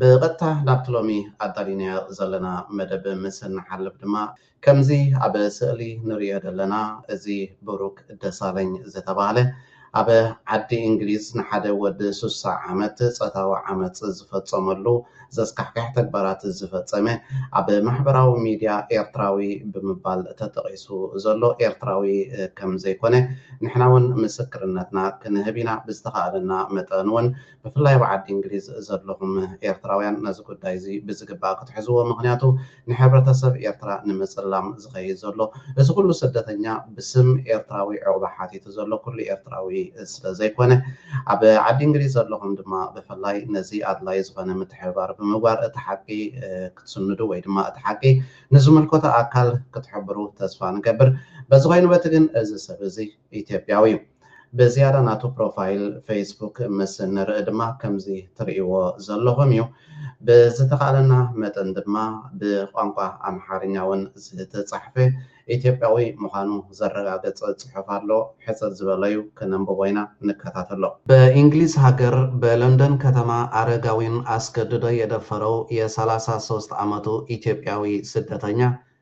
ብቐጥታ ናብቲ ሎሚ ኣዳሊናዮ ዘለና መደብ ምስ እንሓልፍ ድማ፣ ከምዚ ኣብ ስእሊ ንርእዮ ዘለና፣ እዚ ብሩክ ደሳለኝ ዝተባህለ ኣብ ዓዲ እንግሊዝ ንሓደ ወዲ ስሳ ዓመት ጸታዊ ዓመጽ ዝፈጸመሉ ዘስካሕክሕ ተግባራት ዝፈጸመ ኣብ ማሕበራዊ ሚድያ ኤርትራዊ ብምባል ተጠቒሱ ዘሎ ኤርትራዊ ከምዘይኮነ ንሕናውን ምስክርነትና ክንህብ ኢና ብዝተኻእለና መጠንውን ብፍላይ ኣብ ዓዲ እንግሊዝ ዘለኹም ኤርትራውያን ነዚ ጉዳይ እዚ ብዝግባእ ክትሕዝዎ ምኽንያቱ ንሕብረተሰብ ኤርትራ ንምጽላም ዝኸይድ ዘሎ እዚ ኩሉ ስደተኛ ብስም ኤርትራዊ ዑቕባ ሓቲቱ ዘሎ ኩሉ ኤርትራዊ ስለ ዘይኮነ ኣብ ዓዲ እንግሊዝ ዘለኹም ድማ ብፍላይ ነዚ ኣድላዪ ዝኾነ ምትሕብባር ብምግባር እቲ ሓቂ ክትስንዱ ወይ ድማ እቲ ሓቂ ንዝምልከቶ ኣካል ክትሕብሩ ተስፋ ንገብር በዚ ኮይኑ በቲ ግን እዚ ሰብ እዚ ኢትዮጵያዊ እዩ። ብዝያዳ ናቱ ፕሮፋይል ፈይስቡክ ምስ ንርኢ ድማ ከምዚ ትርእይዎ ዘለኹም እዩ። ብዝተኻእለና መጠን ድማ ብቋንቋ ኣምሓርኛ እውን ዝተጻሕፈ ኢትዮጵያዊ ምዃኑ ዘረጋግጽ ጽሑፍ ኣሎ። ሕጽር ዝበለ እዩ፣ ክነንብቦ ኢና፣ ንከታተሎ። በእንግሊዝ ሃገር በለንደን ከተማ ኣረጋዊን ኣስገድዶ የደፈረው የሰላሳ ሶስት ዓመቱ ኢትዮጵያዊ ስደተኛ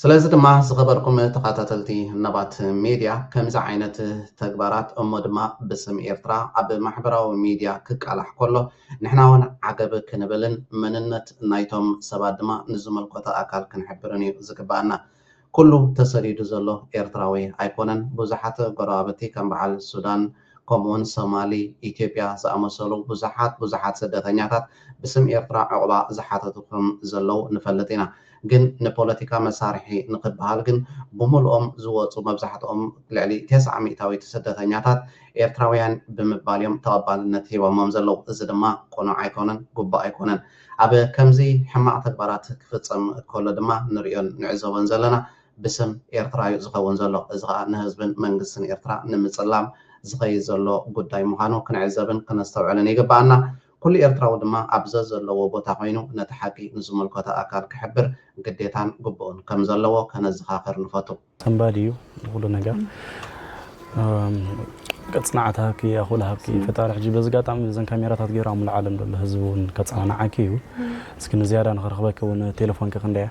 ስለዚ ድማ ዝኸበርኩም ተኻታተልቲ ነባት ሜድያ ከምዚ ዓይነት ተግባራት እሞ ድማ ብስም ኤርትራ ኣብ ማሕበራዊ ሚድያ ክቃላሕ ከሎ ንሕና ውን ዓገብ ክንብልን መንነት ናይቶም ሰባት ድማ ንዝምልከቶ ኣካል ክንሕብርን እዩ ዝግበኣና። ኩሉ ተሰዲዱ ዘሎ ኤርትራዊ ኣይኮነን ብዙሓት ጎረባብቲ ከም በዓል ሱዳን፣ ከምኡውን ሶማሊ፣ ኢትዮጵያ ዝኣመሰሉ ብዙሓት ብዙሓት ስደተኛታት ብስም ኤርትራ ዑቕባ ዝሓተቱ ከም ዘለዉ ንፈልጥ ኢና። ግን ንፖለቲካ መሳርሒ ንክበሃል ግን ብሙሉኦም ዝወጹ መብዛሕትኦም ልዕሊ ተስዓ ሚእታዊት ስደተኛታት ኤርትራውያን ብምባል እዮም ተቐባልነት ሂቦሞም ዘለዉ። እዚ ድማ ቅኑዕ ኣይኮነን ጉቡእ ኣይኮነን። ኣብ ከምዚ ሕማቕ ተግባራት ክፍጸም ከሎ ድማ ንርእዮን ንዕዘቦን ዘለና ብስም ኤርትራ'ዩ ዝኸውን ዘሎ። እዚ ከኣ ንህዝብን መንግስትን ኤርትራ ንምጽላም ዝኸይድ ዘሎ ጉዳይ ምዃኑ ክንዕዘብን ከነስተውዕልን ይግበኣና። ኩሉ ኤርትራዊ ድማ ኣብ ዘዘለዎ ቦታ ኮይኑ ነቲ ሓቂ ንዝምልከቶ ኣካል ክሕብር ግዴታን ግቡእን ከም ዘለዎ ከነዘኻኽር ንፈቱ። ሰንባዲ እዩ ንኹሉ ነገር ቅጽናዓት ሃብኪ ኣኹል ሃብኪ ፈጣሪ ሕጂ በዚ ኣጋጣሚ እዘን ካሜራታት ገይሩ ኣብ ሙሉእ ዓለም ዘሎ ህዝቢ እውን ከጸናንዓኪ እዩ እስኪ ንዝያዳ ንኽረኽበኪ እውን ቴለፎንኪ ክንደይ እያ?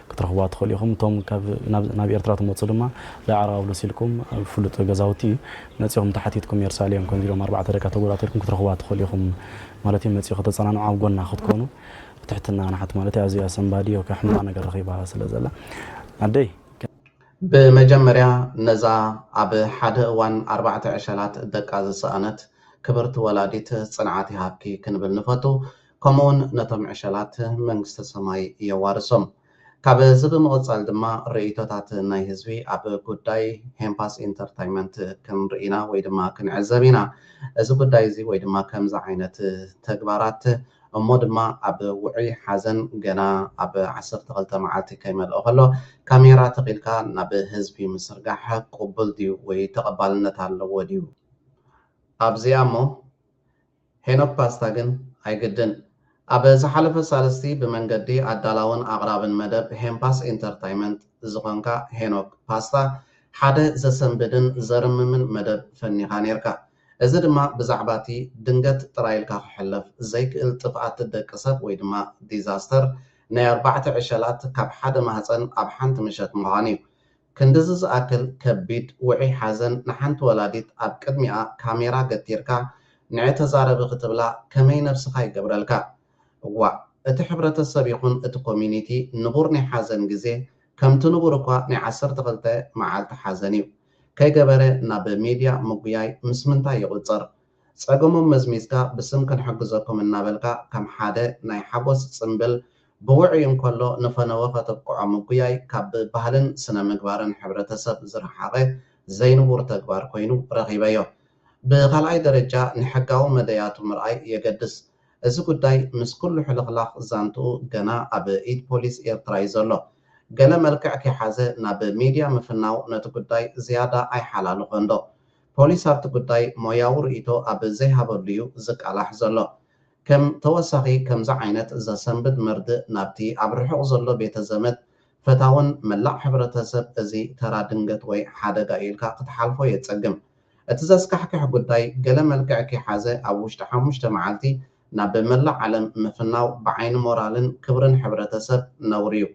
ክትረኽብዋ ትኽእሉ ኢኹም። እቶም ካብ ናብ ናብ ኤርትራ ትመጹ ድማ ዳዕራውሎስ ኢልኩም ኣብ ፍሉጥ ገዛውቲ መጺኹም ተሓቲትኩም የርሳሌም ከምዚ ኢሎም ኣርባዕተ ደቃ ተጎዳእታ ኢልኩም ክትረኽብዋ ትኽእሉ ኢኹም ማለት እዩ መጺኡ ከተጸናንዑ ኣብ ጎና ክትኮኑ ብትሕትና ንሓት ማለት እዩ ኣዚያ ሰንባዲ ኦከ ሕማቕ ነገር ረኺባ ስለ ዘላ ኣደይ ብመጀመርያ ነዛ ኣብ ሓደ እዋን ኣርባዕተ ዕሸላት ደቃ ዝሰኣነት ክብርቲ ወላዲት ጽንዓት ይሃብኪ ክንብል ንፈቱ። ከምኡውን ነቶም ዕሸላት መንግስተ ሰማይ የዋርሶም። ካብ እዚ ብምቕጻል ድማ ርእይቶታት ናይ ህዝቢ ኣብ ጉዳይ ሄምፓስ ኢንተርታይመንት ክንርኢ ኢና ወይ ድማ ክንዕዘብ ኢና። እዚ ጉዳይ እዚ ወይ ድማ ከምዚ ዓይነት ተግባራት እሞ ድማ ኣብ ውዑይ ሓዘን ገና ኣብ ዓሰርተ ክልተ መዓልቲ ከይመልኦ ከሎ ካሜራ ተኺልካ ናብ ህዝቢ ምስርጋሕ ቅቡል ድዩ ወይ ተቐባልነት ኣለዎ ድዩ ኣብዚኣ እሞ ሄኖክ ፓስታ ግን ኣይግድን። ኣብ ዝሓለፈ ሳልስቲ ብመንገዲ ኣዳላውን ኣቕራብን መደብ ሄንፓስ ኢንተርታይመንት ዝኾንካ ሄኖክ ፓስታ ሓደ ዘሰንብድን ዘርምምን መደብ ፈኒኻ ኔርካ። እዚ ድማ ብዛዕባቲ ድንገት ጥራይ ኢልካ ክሕለፍ ዘይክእል ጥፍኣት ደቂ ሰብ ወይ ድማ ዲዛስተር ናይ ኣርባዕተ ዕሸላት ካብ ሓደ ማህጸን ኣብ ሓንቲ ምሸት ምዃኑ'ዩ። ክንድዚ ዝኣክል ከቢድ ውዑይ ሓዘን ንሓንቲ ወላዲት ኣብ ቅድሚኣ ካሜራ ገቲርካ ንዔ ተዛረቢ ክትብላ ከመይ ነብስኻ ይገብረልካ። እዋእ እቲ ሕብረተሰብ ይኹን እቲ ኮሚኒቲ ንቡር ናይ ሓዘን ግዜ ከምቲ ንቡር እኳ ናይ ዓሰርተ ክልተ መዓልቲ ሓዘን እዩ ከይገበረ ናብ ሜድያ ምጉያይ ምስ ምንታይ ይቑጸር? ጸገሞም መዝሚዝካ ብስም ክንሕግዘኩም እናበልካ ከም ሓደ ናይ ሓጎስ ጽምብል ብውዑይ እንከሎ ንፈነወ ከተብቅዖ ምጉያይ ካብ ብባህልን ስነ ምግባርን ሕብረተሰብ ዝረሓቐ ዘይንቡር ተግባር ኮይኑ ረኺበዮ። ብኻልኣይ ደረጃ ንሕጋዊ መደያቱ ምርኣይ የገድስ። እዚ ጉዳይ ምስ ኩሉ ሕልኽላኽ ዛንትኡ ገና ኣብ ኢድ ፖሊስ ኤርትራ'ዩ ዘሎ። ገለ መልክዕ ከይሓዘ ናብ ሚድያ ምፍናው ነቲ ጉዳይ ዝያዳ ኣይሓላልኾንዶ? ፖሊስ ኣብቲ ጉዳይ ሞያዊ ርእይቶ ኣብ ዘይሃበሉ'ዩ ዝቃላሕ ዘሎ። ከም ተወሳኺ ከምዚ ዓይነት ዘሰንብድ መርድእ ናብቲ ኣብ ርሑቕ ዘሎ ቤተ ዘመድ፣ ፈታውን መላእ ሕብረተሰብ እዚ ተራ ድንገት ወይ ሓደጋ'ዩ ኢልካ ክትሓልፎ የጸግም። እቲ ዘስካሕክሕ ጉዳይ ገለ መልክዕ ከይሓዘ ኣብ ውሽጢ ሓሙሽተ መዓልቲ ናብ መላእ ዓለም ምፍናው ብዓይኒ ሞራልን ክብርን ሕብረተሰብ ነውሪ'ዩ።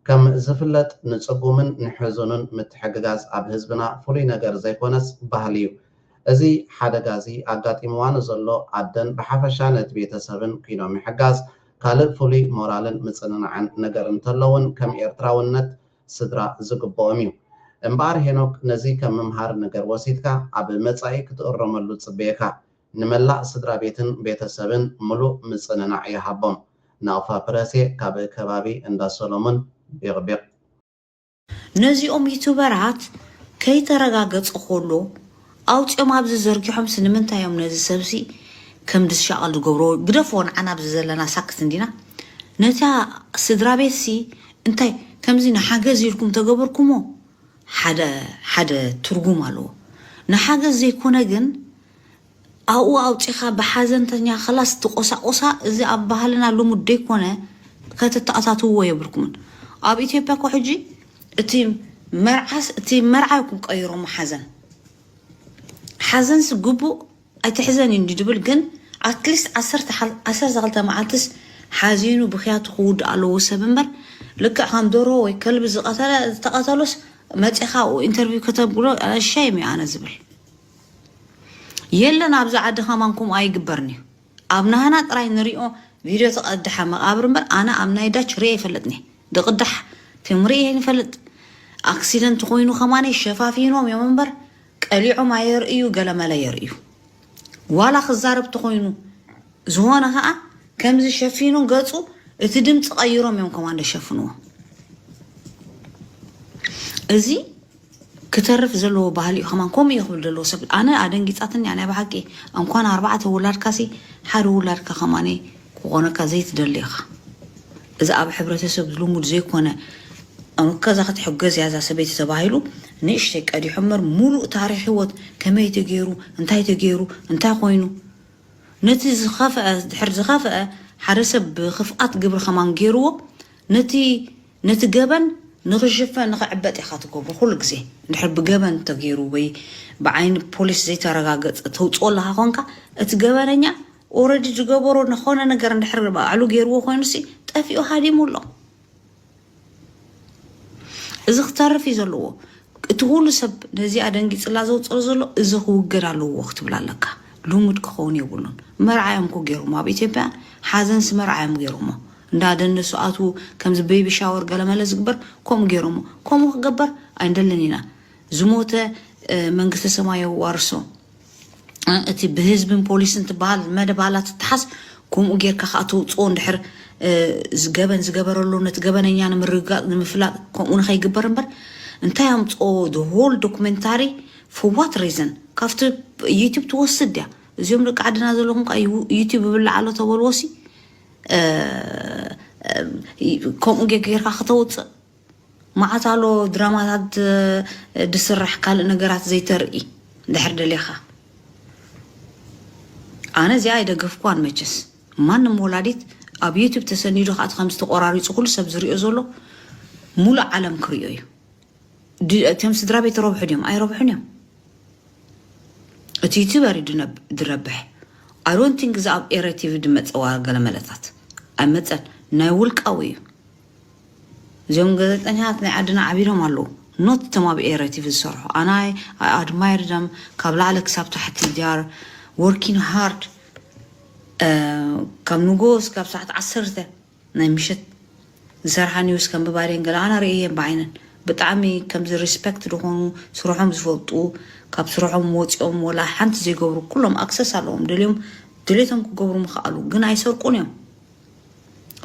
ከም ዝፍለጥ ንጽጉምን ንሕዙንን ምትሕግጋዝ ኣብ ህዝብና ፍሉይ ነገር ዘይኮነስ ባህሊ ዩ። እዚ ሓደጋ እዚ ኣጋጢምዋ ንዘሎ ኣደን ብሓፈሻ ነቲ ቤተሰብን ኩይኖ ምሕጋዝ ካልእ ፍሉይ ሞራልን ምጽንናዕን ነገር እንተሎ ውን ከም ኤርትራውነት ስድራ ዝግብኦም ዩ። እምበኣር ሄኖክ ነዚ ከም ምምሃር ነገር ወሲድካ ኣብ መጻኢ ክትእረመሉ ጽበየካ። ንመላእ ስድራ ቤትን ቤተሰብን ምሉእ ምጽንናዕ ይሃቦም። ናቕፋ ፕረሴ ካብ ከባቢ እንዳ ሰሎሙን ቢቕቢቕ። ነዚኦም ዩቱበራት ከይተረጋገጸ ኮሎ ኣውጺኦም ኣብዚ ዘርጊሖምሲ ንምንታይ እዮም ነዚ ሰብሲ ከምዚ ዝሻቀል ዝገብርዎ ግደፍዎ ንዓና ኣብዚ ዘለና ሳክት እንዲና ነታ ስድራቤትሲ እንታይ ከምዚ ንሓገዝ ኢልኩም ተገበርኩሞ ሓደ ሓደ ትርጉም ኣለዎ ንሓገዝ ዘይኮነ ግን ኣብኡ ኣውጺኻ ብሓዘንተኛ ከላስ ትቆሳቁሳ እዚ ኣብ ባህልና ልሙድ ደይኮነ ከተተኣታትውዎ የብልኩምን ኣብ ኢትዮጵያ እኮ ሕጂ እቲ መርዓስ እቲ መርዓ ይኩም ቀይሮሞ ሓዘን ሓዘንስ ግቡእ ኣይትሕዘን እዩ እንዲ ድብል ግን ኣትሊስት ዓሰርተ ሓ- ዓሰርተ ክልተ መዓልትስ ሓዚኑ ብክያቱ ክውድእ ኣለዎ ሰብ እምበር ልክዕ ከም ዶሮ ወይ ከልቢ ዝቀተለ ዝተቀተሎስ መጺኻ ኢንተርቪው ከተብሎ ሸይም እዩ ኣነ ዝብል የለን ኣብዚ ዓዲ ከማን ከምኡ ኣይግበርን እዩ ኣብ ናህና ጥራይ ንሪኦ ቪድዮ ተቀድሐ መቃብር እምበር ኣነ ኣብ ናይ ዳች ሪኤ ይፈልጥኒ ድቅዳሕ ፊልም ሪኤ ይፈልጥ ኣክሲደንት ኮይኑ ከማነይ ሸፋፊኖም እዮም እምበር ቀሊዖም ኣየርእዩ ገለመለ የርእዩ ዋላ ክዛረብ ተኮይኑ ዝኾነ ከዓ ከምዚ ሸፊኑ ገፁ እቲ ድምፂ ቀይሮም እዮም ከማን ደሸፍንዎ እዚ ክተርፍ ዘለዎ ባህሊ እዩ ከማን ከምኡ እዩ ክብል ዘለዎ ሰብ ኣነ ኣደንጊጻትኒ እያ ናይ ብሓቂ እንኳን ኣርባዕተ ውላድካሲ ሓደ ውላድካ ከማን ክኾነካ ዘይትደሊ ኢኻ እዚ ኣብ ሕብረተሰብ ልሙድ ዘይኮነ ከዛ ክትሕገዝ እያ እዛ ሰበይቲ ተባሂሉ ንእሽተይ ቀዲሑ እምበር ሙሉእ ታሪክ ህይወት ከመይ ተገይሩ እንታይ ተገይሩ እንታይ ኮይኑ ነቲ ዝኸፍአ ድሕር ዝኸፍአ ሓደ ሰብ ብክፍኣት ግብሪ ከማን ገይርዎ ነቲ ነቲ ገበን ንኽሽፈን ንኽዕበጥ ኢኻ ትገብሮ ኩሉ ግዜ እንድሕር ብገበን ተገይሩ ወይ ብዓይኒ ፖሊስ ዘይተረጋገጸ ተውጽኦ ኣለኻ ኮንካ እቲ ገበነኛ ኦረዲ ዝገበሮ ንኾነ ነገር እንድሕር ባዕሉ ገይርዎ ኮይኑሲ ጠፊኡ ሃዲሙ ኣሎ እዚ ክተርፍ እዩ ዘለዎ እቲ ኩሉ ሰብ ነዚኣ ደንጊጽላ ዘውጽኦ ዘሎ እዚ ክውገድ ኣለዎ ክትብል ኣለካ ልሙድ ክኸውን የብሉን መርዓ እዮም ኮ ገይሮሞ ኣብ ኢትዮጵያ ሓዘንሲ መርዓ እዮም ገይሮሞ እንዳ ደነሱ ኣትዉ ከምዚ በይቢ ሻወር ገለመለ ዝግበር ከምኡ ገይሮሞ ከምኡ ክገበር ኣይንደልን ኢና ዝሞተ መንግስተ ሰማይ የዋርሶ እቲ ብህዝብን ፖሊስን ትበሃል መደባላ ትተሓዝ ከምኡ ጌርካ ከዓ ተውፅኦ እንድሕር ገበን ዝገበረሉ ነቲ ገበነኛ ንምርግጋፅ ንምፍላጥ ከምኡ ንኸይግበር እምበር እንታይ ኣምፅኦ ሆል ዶክመንታሪ ፎዋት ሪዘን ካብቲ ዩቱብ ትወስድ እያ እዚኦም ደቂ ዓድና ዘለኹም ከዓ ዩቱብ ይብላዕ ኣሎ ተበልዎሲ ከምኡ ጌርካ ክተውፅእ መዓት ኣሎ ድራማታት ዝስራሕ ካልእ ነገራት ዘይተርኢ ድሕር ደሌኻ ኣነ እዚኣ ኣይደገፍኳን መቸስ ማንም ወላዲት ኣብ ዩቱብ ተሰኒዱ ከዓት ከም ዝተቆራሪፁ ኩሉ ሰብ ዝሪኦ ዘሎ ሙሉእ ዓለም ክሪኦ እዩ እቲም ስድራ ቤት ረብሑ ድዮም ኣይረብሑን እዮም እቲ ዩቱበር እዩ ድረብሕ ኣሮን ቲንግ እዚ ኣብ ኤረ ቲቪ ድመፀዋ ገለ መለታት ኣይመፀን ናይ ውልቃዊ እዩ እዚኦም ገዘጠኛታት ናይ ዓድና ዓቢሮም ኣለዉ ኖት እቶም ኣብ ኤረ ቲቪ ዝሰርሑ ኣናይ ኣድማይር ደም ካብ ላዕለ ክሳብ ታሕቲ ዲያር ወርኪን ሃርድ ካብ ንጎስ ካብ ሰዓት ዓሰርተ ናይ ምሸት ዝሰርሓ ኒውስ ከንብባድየን ገለ ኣነ ርእየን ብዓይነን ብጣዕሚ ከምዚ ሪስፐክት ድኾኑ ስርሖም ዝፈልጡ ካብ ስርሖም ወፂኦም ወላ ሓንቲ ዘይገብሩ ኩሎም ኣክሰስ ኣለዎም ደልዮም ድሌቶም ክገብሩ ምኽኣሉ ግን ኣይሰርቁን እዮም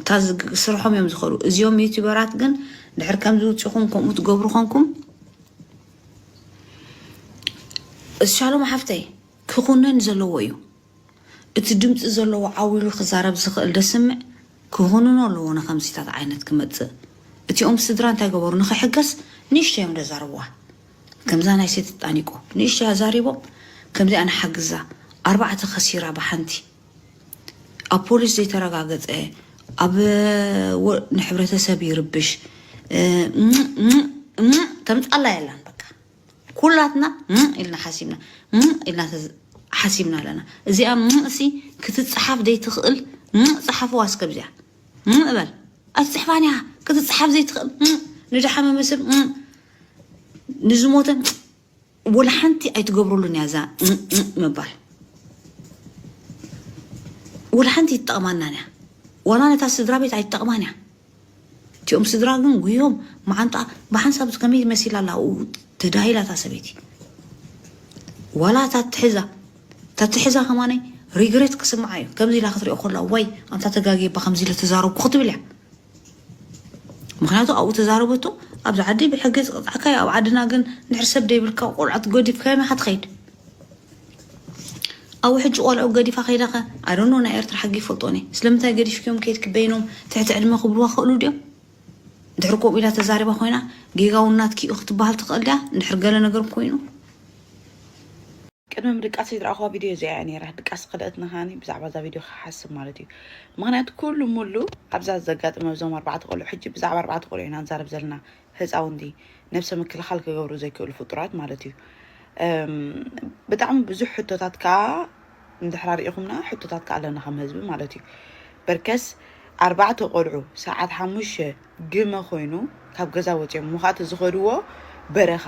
እታ ስርሖም እዮም ዝኸዱ እዚኦም ዩቲበራት ግን ድሕር ከምዚ ውፅኹም ከምኡ ትገብሩ ኾንኩም እሻሎም ሓፍተይ ክኹነን ዘለዎ እዩ እቲ ድምጺ ዘለዎ ዓው ኢሉ ክዛረብ ዝኽእል ደስምዕ ክኹንኖ ኣለዎ ንከምዚታት ዓይነት ክመጽእ እቲኦም ስድራ እንታይ ገበሩ ንክሕገስ ንእሽተይ እዮም ደዛረብዋ ከምዛ ናይ ሴት ጣኒቆ ንእሽተይ ኣዛሪቦም ከምዚኣ ንሓግዛ ኣርባዕተ ከሲራ ብሓንቲ ኣብ ፖሊስ ዘይተረጋገጸ ኣብ ንሕብረተሰብ ይርብሽ እም እም እም ተምጻላ የላን ኩላትና ም ኢልና ሓሲብና ም ኢልና ሓሲብና ኣለና እዚኣ ም እሲ ክትፅሓፍ ዘይትኽእል ም ፅሓፍዋ እስከብዚያ ም እበል ኣይትፅሕፋን እያ ክትፅሓፍ ዘይትኽእል ም ንድሓመመ ሰብ ም ንዝሞተ ወላ ሓንቲ ኣይትገብረሉን እያ እዛ ምባል ወላ ሓንቲ ይጠቕማና እያ ዋላ ነታ ስድራ ቤት ኣይትጠቕማን እያ እቲኦም ስድራ ግን ጉዮም መዓንጣ ብሓንሳብ ከመይ መሲላ ኣላ ኣብኡ ተዳሂላ እታ ሰበይቲ ዋላ እታ ትሕዛ እታ ትሕዛ ከማነይ ሪግሬት ክስምዓ እዩ ከምዚ ኢላ ክትሪኦ ከላ ወይ ኣንታ ተጋጊባ ከምዚ ኢለ ተዛረብኩ ክትብል እያ ምክንያቱ ኣብኡ ተዛረበቶ ኣብዚ ዓዲ ብሕጊ ዝቕፅዓካ እዩ ኣብ ዓድና ግን ንድሕር ሰብ ደይብልካ ቆልዓ ትገዲፍካዮ ናኻ ትኸይድ ኣብ ውሕጂ ቆልዑ ገዲፋ ከይዳ ከ ኣዶኖ ናይ ኤርትራ ሕጊ ይፈልጦ ነ ስለምንታይ ገዲፍክዮም ከይድኪ በይኖም ትሕቲ ዕድመ ክብልዋ ክእሉ ድዮም ድሕሪ ከምኡ ኢላ ተዛሪባ ኮይና ጌጋውን ናትኪ እዩ ክትበሃል ትኽእል ድያ እንድሕር ገለ ነገር ኮይኑ ቅድሚ ምድቃሰይ ዝረኣኹዋ ቪድዮ እዚኣ እያ ነይራ ድቃስ ከልእትና ከዓኒ ብዛዕባ እዛ ቪድዮ ክሓስብ ማለት እዩ ምክንያቱ ኩሉ ሙሉ ኣብዛ ዘጋጥም ኣብዞም ኣርባዕተ ቆልዑ ሕጂ ብዛዕባ ኣርባዕተ ቆልዑ ኢና ንዛረብ ዘለና ህፃውንቲ ነብሰ ምክልኻል ክገብሩ ዘይክእሉ ፍጡራት ማለት እዩ። እም፣ ብጣዕሚ ብዙሕ ሕቶታት ከዓ እንድሕር ኣርኢኹምና ሕቶታት ከዓ ኣለና ከም ህዝቢ ማለት እዩ። በርከስ ኣርባዕተ ቆልዑ ሰዓት ሓሙሽተ ግመ ኮይኑ ካብ ገዛ ወፂኦም እሞ ከዓ እቲ ዝኸድዎ በረኻ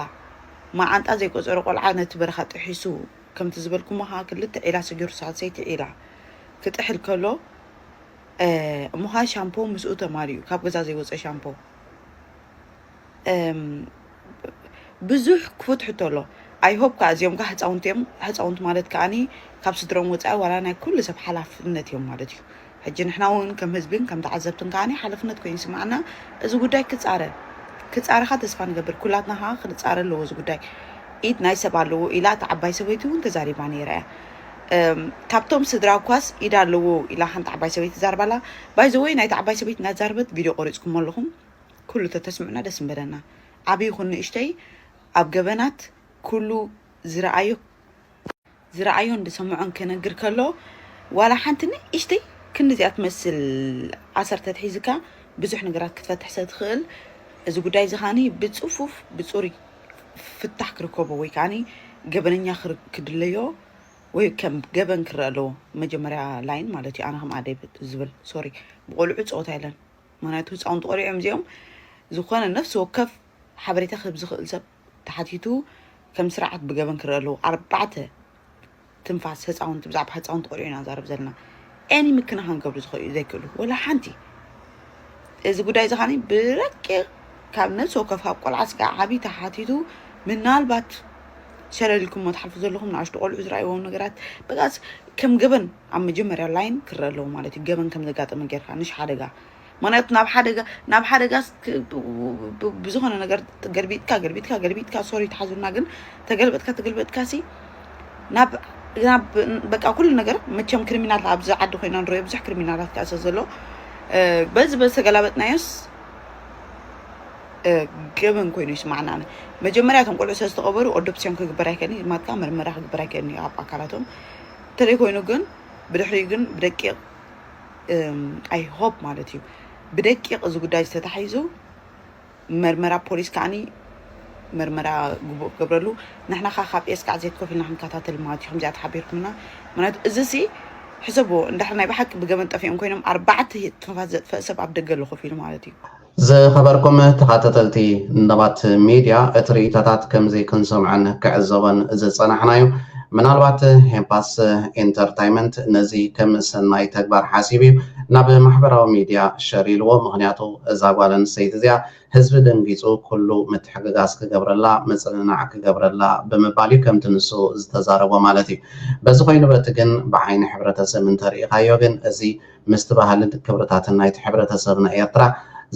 መዓንጣ ዘይቆፀረ ቆልዓ ነቲ በረኻ ጥሒሱ ከምቲ ዝበልኩሞ ከዓ ክልተ ዒላ ሰጊሩ ሳልሰይቲ ዒላ ክጥሕል ከሎ እ፣ እሞ ከዓ ሻምፖ ምስኡ ተማሊኡ ካብ ገዛ ዘይወፀ ሻምፖ ብዙሕ ክፉት ሕቶ ኣሎ ኣይሆፕ ከዓ እዚኦም ከዓ ህፃውንቲ እዮም ህፃውንቲ ማለት ከዓ ካብ ስድሮም ወፃኢ ዋላ ናይ ኩሉ ሰብ ሓላፍነት እዮም ማለት እዩ ሕጂ ንሕና እውን ከም ህዝብን ከም ተዓዘብትን ከዓ ሓላፍነት ኮይኑ ይስምዓና እዚ ጉዳይ ክፃረ ክፃረ ከዓ ተስፋ ንገብር ኩላትና ከዓ ክንፃረ ኣለዎ እዚ ጉዳይ ኢድ ናይ ሰብ ኣለዎ ኢላ እቲ ዓባይ ሰበይቲ እውን ተዛሪባ ነይራ እያ ካብቶም ስድራ እኳስ ኢድ ኣለዎ ኢላ ሓንቲ ዓባይ ሰበይቲ ዛርባላ ባይ ዘ ወይ ናይታ ዓባይ ሰበይቲ ናዛረበት ቪድዮ ቆሪጽኩሞ ኣለኹም ኩሉ ተተስምዑና ደስ ምበለና ዓቢ ይኹን ንእሽተይ ኣብ ገበናት ኩሉ ዝረኣዮ ዝረኣዮን ዝሰምዖን ክነግር ከሎ ዋላ ሓንቲ ንእሽተይ ክንዲ እዚኣ ትመስል ኣሰር ተትሒዝካ ብዙሕ ነገራት ክትፈትሕ ስለ ትኽእል እዚ ጉዳይ እዚ ከዓኒ ብጽፉፍ ብጽሩይ ፍታሕ ክርከቦ ወይ ከዓኒ ገበነኛ ክድለዮ ወይ ከም ገበን ክረኣ ኣለዎ መጀመርያ ላይን ማለት እዩ ኣነ ከም ኣደይ ብ- ዝብል ሶሪ ብቆልዑ ፀወታ የለን ምክንያቱ ህፃውንቲ ቆልዑ እዮም እዚኦም ዝኾነ ነፍሲ ወከፍ ሓበሬታ ክህብ ዝኽእል ሰብ ተሓቲቱ ከም ስርዓት ብገበን ክረኣ ኣለዎ ኣርባዕተ ትንፋስ ህፃውንቲ ብዛዕባ ህፃውንቲ ቆልዑ ኢና ንዛረብ ዘለና any ምክንኻን ክገብሩ ዝኸእሉ ዘይክእሉ ወላ ሓንቲ እዚ ጉዳይ እዚ ኻኒ ብረቂቕ ካብ ነፍሲ ወከፍ ካብ ቆልዓ ስጋዕ ዓብዪ ተሓቲቱ ምናልባት ሸለል ኢልኩሞ ትሓልፉ ዘለኹም ንኣሽቱ ቆልዑ ዝረኣይዎም ነገራት በቃ ከም ገበን ኣብ መጀመርያ ላይን ክረአ ኣለዎ ማለት እዩ ገበን ከም ዘጋጠመ ጌርካ ንሽ ሓደጋ ምክንያቱ ናብ ሓደጋ ናብ ሓደጋስ ክ- ብ- ብ- ብ- ብዝኾነ ነገር ገልቢጥካ ገልቢጥካ ገልቢጥካ ሶሪ ተሓዙልና ግን ተገልበጥካ ተገልበጥካ ሲ ናብ ናብ በቃ ኩሉ ነገር መቸም ክሪሚናል ኣብዚ ዓዲ ኮይና ንሪኦ ብዙሕ ክሪሚናላት ከዓ ስለ ዘሎ እ፣ በዚ በዚ ተገላበጥናዮስ እ፣ ገበን ኮይኑ ይስማዕና ኣነ መጀመርያ እቶም ቆልዑ ስለ ዝተቐበሩ ኦዶፕስዮም ክግበር ኣይከእልን እዩ ማጥቃ መርመራ ክግበር ኣይከእልን እዩ ኣብ ኣካላቶም እንተደይ ኮይኑ ግን ብድሕሪኡ ግን ብደቂቕ ኣይ ሆፕ ማለት እዩ ብደቂቕ እዚ ጉዳይ ዝተታሒዙ መርመራ ፖሊስ ከዓኒ መርመራ ግቡእ ክገብረሉ ንሕና ከዓ ካብ ኤስካዕ ዘይከፍልና ክንከታተል ማለት እዩ ከምዚኣ ተሓቢርኩምና ምክንያቱ እዚ ሲ ሕሰብዎ እንድሕር ናይ ብሓቂ ብገበን ጠፊኦም ኮይኖም ኣርባዕተ ትንፋስ ዘጥፈእ ሰብ ኣብ ደገ ኣሎ ኮፍ ኢሉ ማለት እዩ ዝኸበርኩም ተኻተተልቲ ንባት ሚድያ እቲ ርኢቶታት ከምዚ ክንሰምዖን ክዕዘቦን ዝጸናሕናዩ ምናልባት ሄፓስ ኢንተርታይመንት ነዚ ከም ሰናይ ተግባር ሓሲቡ ዩ ናብ ማሕበራዊ ሚድያ ሸር ኢልዎ ምኽንያቱ እዛ ጓል ኣንስተይቲ እዚኣ ህዝቢ ደንጊጹ ኩሉ ምትሕግጋዝ ክገብረላ ምጽንናዕ ክገብረላ ብምባል ዩ ከምቲ ንሱ ዝተዛረቦ ማለት ዩ በዚ ኮይኑ በቲ ግን ብዓይኒ ሕብረተሰብ እንተርኢኻዮ ግን እዚ ምስቲ ባህልን ክብርታትን ናይቲ ሕብረተሰብና ኤርትራ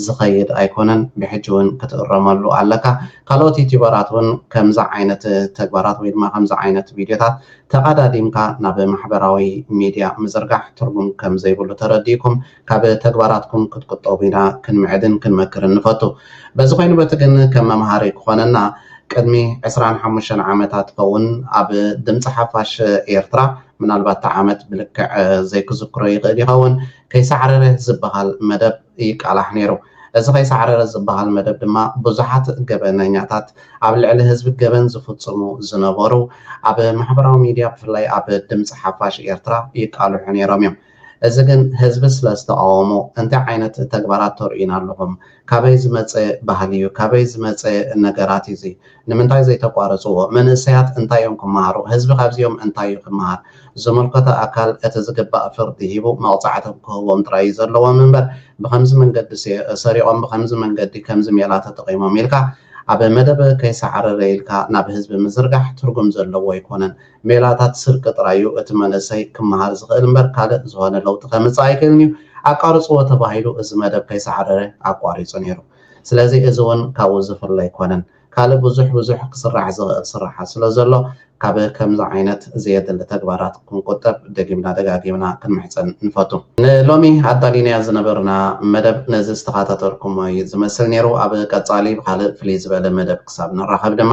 ዝኸይድ ኣይኮነን ብሕጂ ውን ክትእረመሉ ኣለካ ካልኦት ዩቱበራት ውን ከምዚ ዓይነት ተግባራት ወይ ድማ ከምዚ ዓይነት ቪድዮታት ተቐዳዲምካ ናብ ማሕበራዊ ሚድያ ምዝርጋሕ ትርጉም ከም ዘይብሉ ተረዲእኩም ካብ ተግባራትኩም ክትቁጠቡ ኢና ክንምዕድን ክንመክርን ንፈቱ በዚ ኮይኑ በቲ ግን ከም መምሃሪ ክኾነና ቅድሚ ዕስራን ሓሙሽተን ዓመታት ይኸውን ኣብ ድምፂ ሓፋሽ ኤርትራ ምናልባት እቲ ዓመት ብልክዕ ዘይክዝክሮ ይኽእል ይኸውን፣ ከይሳዕረረ ዝበሃል መደብ ይቃላሕ ነይሩ። እዚ ከይሳዕረረ ዝበሃል መደብ ድማ ብዙሓት ገበነኛታት፣ ኣብ ልዕሊ ህዝቢ ገበን ዝፍጽሙ ዝነበሩ፣ ኣብ ማሕበራዊ ሚድያ ብፍላይ ኣብ ድምጺ ሓፋሽ ኤርትራ ይቃልሑ ነይሮም እዮም። እዚ ግን ህዝቢ ስለ ዝተቃወሞ እንታይ ዓይነት ተግባራት ተርእዩና ኣለኹም ካበይ ዝመጸ ባህሊ ዩ ካበይ ዝመጸ ነገራት ዩ እዚ ንምንታይ ዘይተቋርጽዎ መንእሰያት እንታይ ዮም ክመሃሩ ህዝቢ ካብዚኦም እንታይ ዩ ክመሃር ዝምልከቶ ኣካል እቲ ዝግባእ ፍርዲ ሂቡ መቅጻዕቲ ክህቦም ጥራይ ዩ ዘለዎም እምበር ብከምዚ መንገዲ ሰሪቆም ብከምዚ መንገዲ ከምዚ ሜላ ተጠቂሞም ኢልካ ኣብ መደብ ከይሳዕረረ ኢልካ ናብ ህዝቢ ምዝርጋሕ ትርጉም ዘለዎ ኣይኮነን ሜላታት ስርቂ ጥራይ እዩ እቲ መንእሰይ ክመሃር ዝኽእል እምበር ካልእ ዝኾነ ለውጢ ከምጽእ ኣይክእልን እዩ። ኣቃርጽዎ ተባሂሉ እዚ መደብ ከይሰዓረረ ኣቋሪጹ ነይሩ። ስለዚ እዚ ውን ካብኡ ዝፍለ ኣይኮነን። ካልእ ብዙሕ ብዙሕ ክስራሕ ዝኽእል ስርሓት ስለዘሎ ካብ ከምዚ ዓይነት ዘየድሊ ተግባራት ክንቁጠብ ደጊምና ደጋጊምና ክንምሕጸን ንፈቱ። ንሎሚ ኣዳሊናያ ዝነበርና መደብ ነዚ ዝተኻታተልኩሞ እዩ ዝመስል ነይሩ። ኣብ ቀጻሊ ብኻልእ ፍልይ ዝበለ መደብ ክሳብ ንራኸብ ድማ